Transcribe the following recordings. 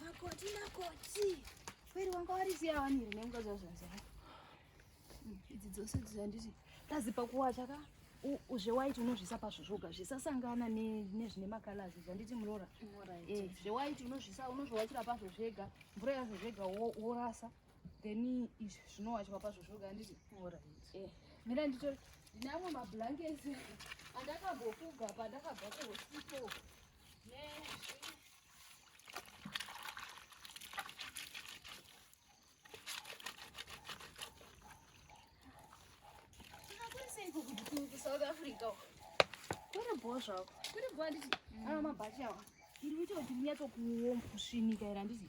Makoti, makoti. Kweri wanga warisiya wani here nemukadzi wazvaziva? Hmm, idzi dzose dzanditi tazipa kuwacha ka zvewaiti unozvisa pazvo zvoga zvisasangana nezvine makalazi zvanditi murora eh, zvewaiti unozvisa unozvowachira pazvo zvega mvura yazvo zvega worasa then izvi zvinowachwa pazvo zvoga handiti eh, mira ndito ndine amwe mablankets andakambofuga pandakabva kuhosito south africa kuri bho zvako kuri bho handiti mm. ano mabhachi awa iri kuita kuti munyatsokuomba kusvinika iri handiti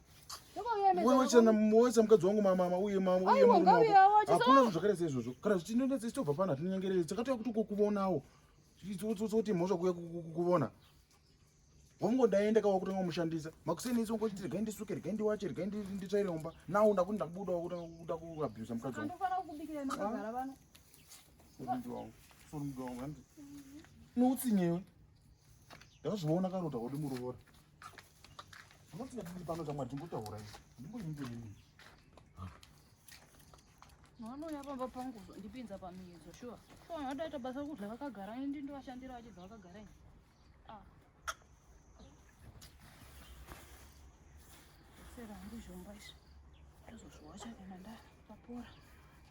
wewe chana mwoza mukadzi wangu mama uye mama uye mama hakuna zvakare seizvozvo kana zvitinonetsa isitobva pano hatinyengerere takatouya kuti kukuvonawo kuti mhosva kuya kukuvona wamngo ndaenda kawa kutanga kumushandisa makuseni isi ungoti regai ndisuke regai ndiwache regai nditsvaire umba nawo ndakuti ndakubuda kuda kuabusa mukadzi wangu noutsinyewe ndakazviona karota kuti murovora Unotinadii pano chamwari tingotaura izvi. Ndimboyinge nini. Vanouya pamba pangu ndipinza pamiyedzo shuwa. Shuwa vanotoita basa rokudya vakagara ini ndindovashandira vachibva vakagara ini. Ah. Sera handizvomba izvi. Ndozozviwacha kana ndapapora.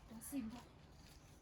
Ndasimba.